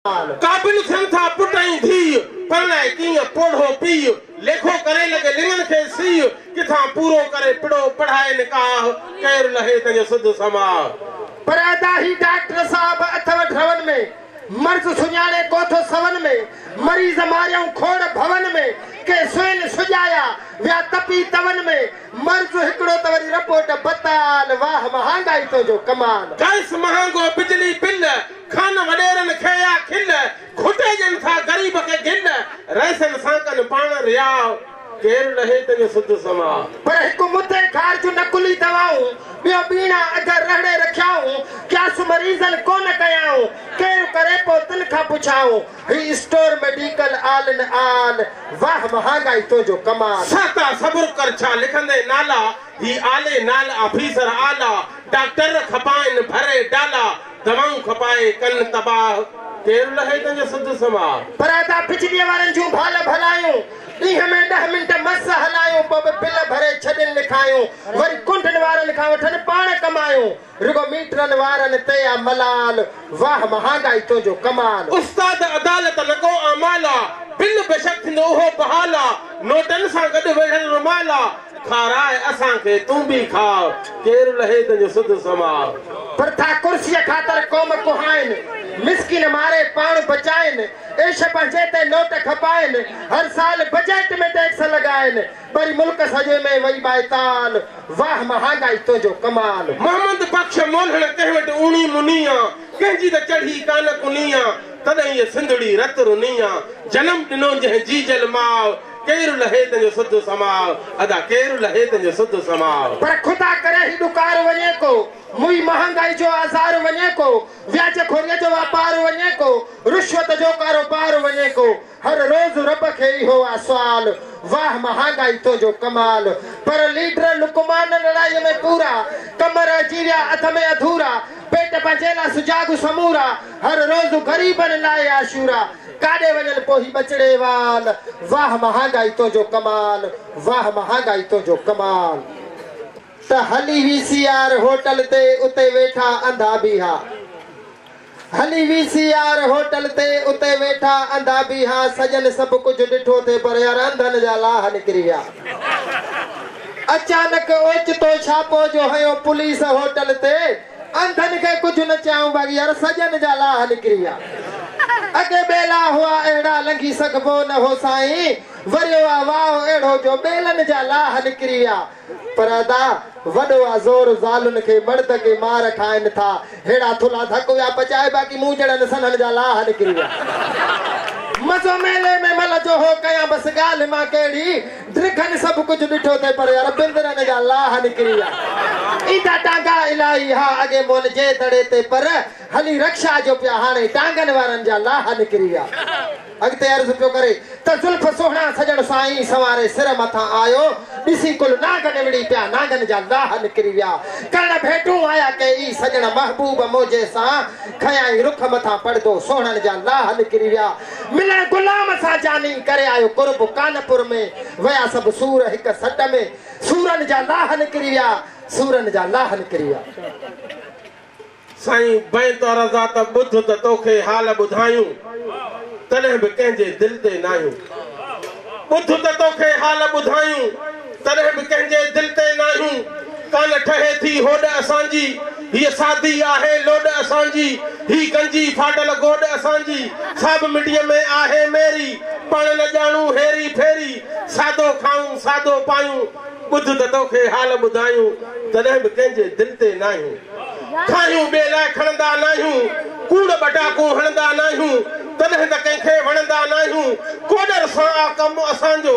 قابل ٿين ٿا پٽ ۽ ڌيء، پرڻائي ڪيئن پوڙهو پيء، ليکو ڪري لڳي لڱن کي سيء، ڪٿان پورو ڪري پڙهو پڙهائي نڪاح، ڪير لهي تنهنجو سڌ سماء. پر ادا هي ڊاڪٽر صاحب اٿو ڍرون ۾، مرض سڃاڻي ڪوٿو سون ۾، مريض ماريائون کوڙ ڀون ۾، ڪي سوين سجايا، ويا تپي تون ۾، مرض هڪڙو ته وري رپورٽ بتال، واهه مهانگائي تنهنجو ڪمال. گئس مهانگو بجلي بل، کان وڏيرن کي يا کل، گهٽي ڏين ٿا غريب کي گل، رئيسن سان ڪن پاڻ رياء، ڪير لهي تنهن جو سڌ سماء. پر هڪ مدي کار جون نقلي دوائون، ٻيو ٻيڻا اڌ رهڙي رکيائون، قياس مريضن ڪو نه ڪيائون، ڪير ڪري پو تن کان پڇائون، هي store medical all in all, واهه مهانگائي تنهنجو ڪمال. سهتا صبر ڪر ڇا لکندين نالا، هي آلي نال آفيسر اعليٰ، ڊاڪٽر کپائن ڀري ڊالا، دوائون کپائي ڪن تباهه، ڪير لهي تنهنجو سڌ سنوار. پراتا بجليء وارن جون ڀال ڀلايون، ڏينهن ۾ ڏهه منٽ مس هلايون، پوء به بل ڀري ڇڏين لکايون، وري ڪنڊن وارن کان وٺن پاڻ ڪمايون، رڳو ميٽرن وارن تي آ ملال، واهه مهانگائي تنهنجو ڪمال. استاد عدالت نه ڪو اعمال آ، بل بيشڪ ٿيندو اهو بحال آ، نوٽن سان گڏ ويڙهيل رومال آ، کارائي اسان کي تون به کاء، ڪير لهي تنهنجو سڌ سماء. پرٿا ڪرسيء خاطر قوم ڪهائين، مسڪين ماري پاڻ بچائين، عيش پنهنجي تي نوٽ کپائين، هر سال بجيٽ ۾ ٽيڪس لڳائين، وري ملڪ سڄي ۾ وئي ٻائتال، واهه مهانگائي تنهنجو ڪمال. محمد بخش مولهڻ ڪنهن وٽ اوني مني آ، ڪنهن جي ته چڙهي ڪانه ڪني آ، تڏهن هيء سنڌڙي رت رني آ، جنم ڏنو جنهن جيجل ماء، ڪير لهي تنهنجو سڌ سماء. ادا ڪير لهي تنهنجو سڌ سماء. پر خدا ڪري هي ڏڪار وڃي ڪو. موئي مهانگائي جو آزار وڃي ڪو. وياج خوريء جو واپار وڃي ڪو. رشوت جو ڪاروبار وڃي ڪو. هر روز رب کي اهو آ سوال. واهه مهانگائي تنهنجو ڪمال. پر ليڊر لقمان لڙائيء ۾ پورا. ڪم رهجي ويا اڌ ۾ اڌورا. پيٽ پنهنجي لا سجاڳ سمورا. هر روز غريبن لاء عاشورا. ڪاڏي وڃن پوء هي ٻچڙي وال. واھ مهانگائي تنهنجو ڪمال واھ مهانگائي تنهنجو ڪمال. ته هلي وي سي آر هوٽل تي اتي ويٺا انڌا بيها. هلي وي سي آر هوٽل تي اتي ويٺا انڌا بيها سڄن سڀ ڪجهه ڏٺو ٿي پر يار انڌن جا لاھ نڪري ويا. اچانڪ اوچتو ڇاپو جو هنيو پوليس هوٽل تي. انڌن کي ڪجهه نه چيائون بغير سڄن جا لاهه نڪري ويا. اڳي ٻيلا هئا اهڙا لنگهي سگهبو نه هو سائين، وريو آ واهه اهڙو جو ٻيلن جا لاهه نڪري ويا. پر ادا وڏو آ زور زالن کي مرد ڪي مار کائن ٿا ههڙا ٿلها ڌڪ ويا پچائي باقي مون جهڙن سنهن جا لاهه نڪري ويا. مزو ميلي ۾ مل جو هو ڪيان بس ڳالهه مان ڪهڙي درخن سڀ ڪجهه ڏٺو ٿئي پر يار بندرن جا لاهه نڪري ويا ايندا ٽانگا الاهي ها اڳي مون جي دڙي تي پر هلي رڪشا جو پيا هاڻي ٽانگن وارن جا لاهه نڪري ويا اڳتي عرض پيو ڪري ته زلف سهڻا سڄڻ سائين سنواري سر مٿان آيو ڏسي ڪل نانگ نوڙي پيا نانگن جا لاهه نڪري ويا ڪرڻ ڀيٽون آيا ڪي اي سڄڻ محبوب منهنجي سان کنيائين رخ مٿان پڙدو سهڻن جا لاهه نڪري ويا ملڻ غلام سان جاني ڪري آيو قرب ڪانپور ۾ ويا سڀ سور هڪ سٽ ۾ سورن جا لاهه نڪري ويا سورن جا لاهه نڪري ويا. سائين بين تو رضا ته ٻڌ ته توکي حال ٻڌايون تڏهن به ڪنهن جي دل تي ناهيون ٻڌ ته توکي حال ٻڌايون. تڏهن به ڪنهن جي دل تي ناهين ڪانه ٺهي ٿي هوڏ اسان جي هيء سادي آهي لوڏ اسان جي هي گنجي ڦاٽل گوڏ اسان جي ساڀ مٽيء ۾ آهي ميري پاڻ نه ڄاڻون هيري ڦيري سادو کائون سادو پايون ٻڌ ته توکي حال ٻڌايون تڏهن به ڪنهن جي دل تي ناهين کاهيون ٻئي لاء کڻندا ناهيون ڪوڙ ٻٽاڪون هڻندا ناهيون تڏهن ته ڪنهن کي وڻندا ناهيون ڪوڏر سان آ ڪم اسان جو.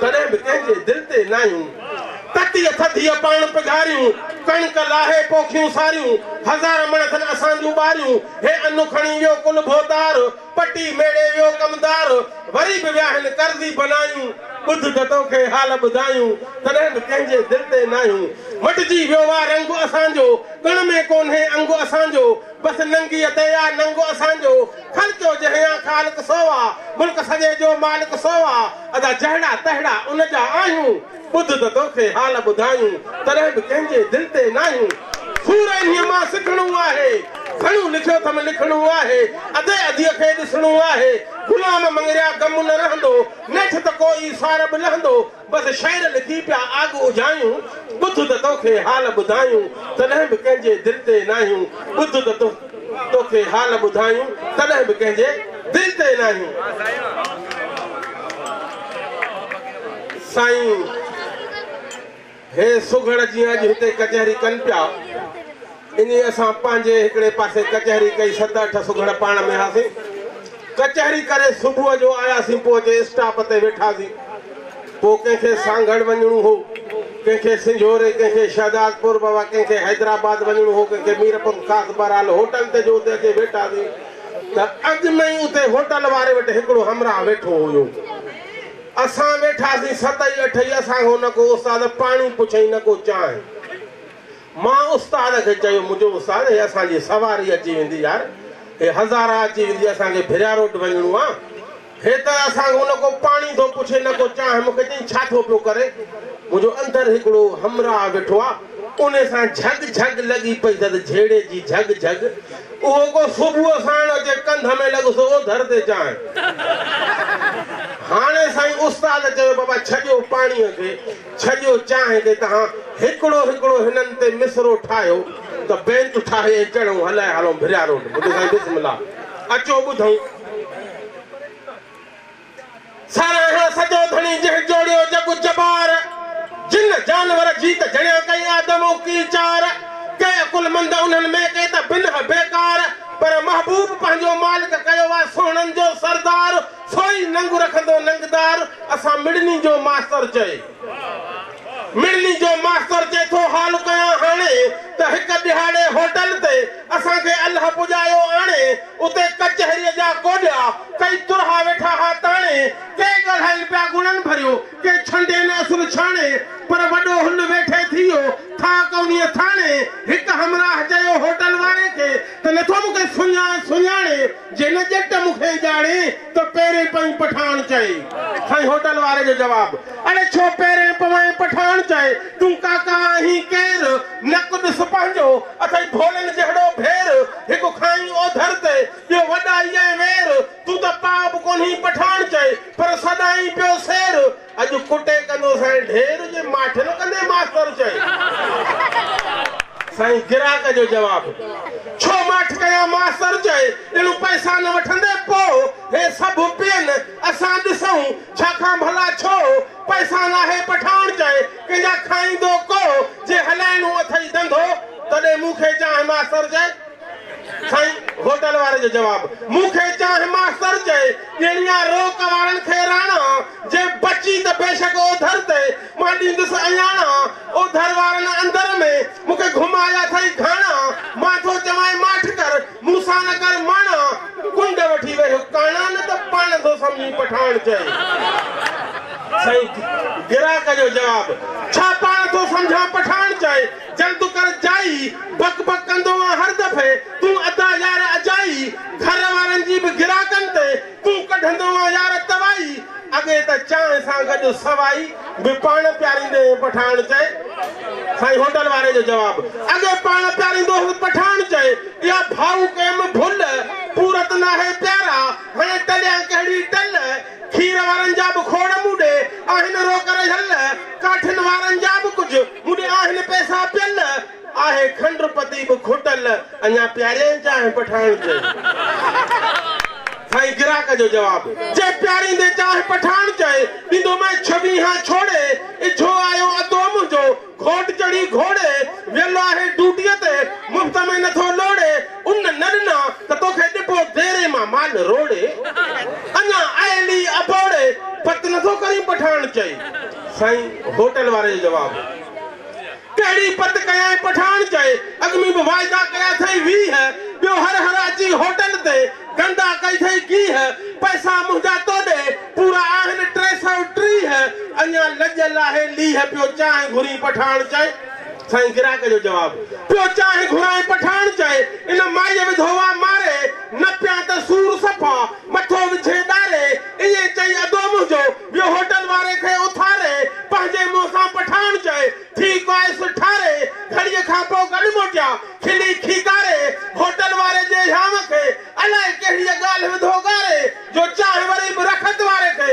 تڏهن به ڪنهن جي دل تي ناهيون تتيء ٿڌيء پاڻ پگهاريون ڪڻڪ لاهي پوکيون ساريون هزار مڻ ٿن اسان جون ٻاريون هي انو کڻي ويو ڪل ڀوتار پٽي ميڙي ويو ڪمدار وري به وياهن قرضي بنايون ٻڌ ته تو کي حال ٻڌايون تڏهن به ڪنهن جي دل تي ناهيون مٽجي ويو آ رنگ اسان جو ڪڻ ۾ ڪونهي انگ اسان جو بس ننگيء تي آ ننگ اسان جو. خلق جو جهيان خالق سو آ، ملڪ سڄي جو مالڪ سو آ، ادا جهڙا تهڙا ان جا آهيون، ٻڌ ته توکي حال ٻڌايون، تڏهن به ڪنهن جي دل تي ناهيون، سور انهيء مان سکڻو آهي، گهڻو لکيو اٿم لکڻو آهي، ادي اديء کي ڏسڻو آهي، غلام مڱريا غم نه رهندو، نيٺ ته ڪو ئي سار به لهندو، بس شعر لکي پيا آڳ اجهايون، ٻڌ ته توکي حال ٻڌايون، تڏهن به ڪنهن جي دل تي ناهيون، ٻڌ ته توکي حال ٻڌايون، تڏهن به ڪنهن جي دل تي ناهيون. سائين هي سگهڙ جيئن اڄ هتي ڪچهري ڪن پيا. انهيء سان پنهنجي هڪڙي پاسي ڪچهري ڪئي، ست اٺ سگهڙ پاڻ ۾ هئاسين. ڪچهري ڪري صبح جو آياسين، پهچي اسٽاپ تي ويٺاسين. پوء ڪنهن کي سانگهڙ وڃڻو هو، ڪنهن کي سنجهوري، ڪنهن کي شهدادپور بابا، ڪنهن کي حيدرآباد وڃڻو هو، ڪنهن کي ميرپور خاص. بهرحال هوٽل تي جو اتي اچي ويٺاسين ته اڳ ۾ ئي اتي هوٽل واري وٽ هڪڙو همراهه ويٺو هيو. اسان ويٺاسين ست ئي اٺ ئي، اسان کان نه ڪو استاد پاڻي پڇيائين نه ڪو چانهه. مان استاد کي چيو، منهنجو استاد هي اسان جي سواري اچي ويندي يار، هي هزارا اچي ويندي اسان کي ڀريا روڊ وڃڻو آ، هي ته اسان کان نه ڪو پاڻي ٿو پڇي نه ڪو چانهه، مون کي چيائين ڇا ٿو پيو ڪرين؟ منهنجو اندر هڪڙو همراهه ويٺو آ، ان سان جهڳ جهڳ لڳي پئي ته جهيڙي جي جهڳ جهڳ، اهو ڪو صبح ساڻ اچي ڪنڌ ۾ لڳس اوڌر تي چانهه. هاڻي سائين استاد چيو بابا ڇڏيو پاڻيء کي، ڇڄو چانهه تي تهان هڪڙو هڪڙو هنن تي مصرعو ٺاهيو ته بينت ٺاهي ۽ چڙهون هلائي هلون ڀريا روڊ مٺي سائين بسم الله اچو ٻڌون ساراهيان سڄو ڌڻي جنهن جوڙيو جڳ جبار جن جانور جيت جڻيا ڪئي آدم اڪي چار ڪي عقل مند انهن ۾ ڪي ته بنهه بيڪار پر محبوب پنهنجو مالڪ ڪيو آ سهڻن جو سردار سوئي ننگ رکندو ننگدار اسان مڙني جو ماستر چئي مڙني جو ماستر چئي ٿو حال ڪيان هاڻي ته هڪ ڏهاڙي هوٽل تي اسان کي الهه پڄايو آڻي اتي ڪچهري جا ڪوڏيا ڪئي ترها ويٺا ها تاڻي ڪي ڳالهائين پيا گڻن ڀريو ڪي ڇنڊين اصل ڇاڻي پر وڏو هن ويٺي ٿيو ٿا ڪونيء ٿاڻي هڪ همراهه چيو هوٽل واري کي ته نٿو مون کي سڃاڻي جي نه ڄٽ مون کي ڄاڻي ته پيرين پوين پٺاڻ چئي. سائين هوٽل واري جو جواب، اڙي ڇو پيرين پوين پٺاڻ چئي، تون ڪاڪا آهين ڪير، نڪ ڏس پنهنجو، اٿئي ڀولن جهڙو ڀير، هڪ کانئين اوڌر تي ٻيو وڏائي ۽ وير، تون ته پاء به ڪونهين پٺاڻ چئي، پر سڏائين پيو سير، اڄ ڪٽي ڪندو سائين ڍير جي ماٺ نه ڪندي ماستر چئي سائين گراهڪ جو جواب ڇو ماٺ ڪيان ماستر چئي ڄڻو پئسا نه وٺندي پو هي سڀ پين اسان ڏسون ڇا کان ڀلا ڇو پئسا ناهي پٺاڻ چئي ڪنهن جا کائيندو ڪو جي هلائڻو اٿئي ڌنڌو تڏهن مون کي چانهه ماستر چئي. سائين هوٽل واري جو جواب مون کي چانهه ماستر چئي ڏيڻي آ رو ڪواڙن کي راڻا جي بچي ته بيشڪ اوڌر تي مان ڏيندس اياڻا اوڌر وارن اندر ۾ مون کي گهمايا ٿئي گهاڻا مان ٿو چوانء ماٺ ڪر مون سان نه ڪر ماڻا ڪنڊ وٺي ويهه ڪاڻا نه ته پاڻ ٿو سمجهين پٺاڻ چئي سائين گراهڪ جو جواب ڇا پاڻ ٿو سمجهان پٺاڻ چئي جلد ڪر جائي، بڪ بڪ ڪندو آن هر دفعي تون ادا يار اجائي، گهر وارن جي به گراڪن تي تون ڪڍندو آن يار توائي، اڳي ته چانهه سان گڏ سوائي به پاڻ پياريندي هين پٺاڻ چئي، سائين هوٽل واري جو جواب، اڳي پاڻ پياريندو هين پٺاڻ چئي، اها ڀائو ڪيم ڀل، پورت ناهي پيارا، هاڻي ٽليان ڪهڙي ٽل، کير وارن جا به کوڙ مون ڏي آهن روڪ رهيل، ڪاٺين وارن جا به ڪجهه. موني آهن پئسا پيل، آهي کنڊ پتي به کوٽل، اڃا پياريائين چانهه پٺاڻ چئي. سائين گراهڪ جو جواب، جي پياريندين چانهه پٺاڻ چئي، ڏيندومانء ڇويهان ڇوڙي، اجهو آيو ادو منهنجو، گهوٽ چڙهي گهوڙي، ويل آهي ڊوٽيء تي، مفت ۾ نٿو لوڙي، ان نه ڏنا ته توکي ڏبو ديري مان مال روڙي، اڃا ايلي ابوڙي پت نه ٿو ڪرين پٺاڻ چئي، سائين هوٽل واري جو جواب هو. ڪهڙي پت ڪيائين پٺاڻ چئي، اڳ ۾ به واعدا ڪيا اٿئي ويهه، ٻيو هر هر اچي هوٽل تي گنڊا ڪئي اٿئي گيهه، پئسا منهنجا توڏي پورا آهن ٽي سئو ٽيهه، اڃا لڄ لاهي ليهه پيو چانهه گهرين پٺاڻ چئي، سائين گراڪ جو جواب پيو چاهين گهرائين پٺاڻ چئي ان مائيء وڌو وا ماري نه پيان ته سور صفا مٿو وجهين ڏاري ائين چئي ادو منهنجو ويو هوٽل واري کي اٿاري پنهنجي منهن سان پٺاڻ چئي ٿي ڪوائس ٺاري گهڙيء کان پوء گڏ موٽيا کلي کيڪاري هوٽل واري جي هيانء کي الائي ڪهڙيء ڳالهه وڌو ڳاري جو چانهه وري به رخت واري کي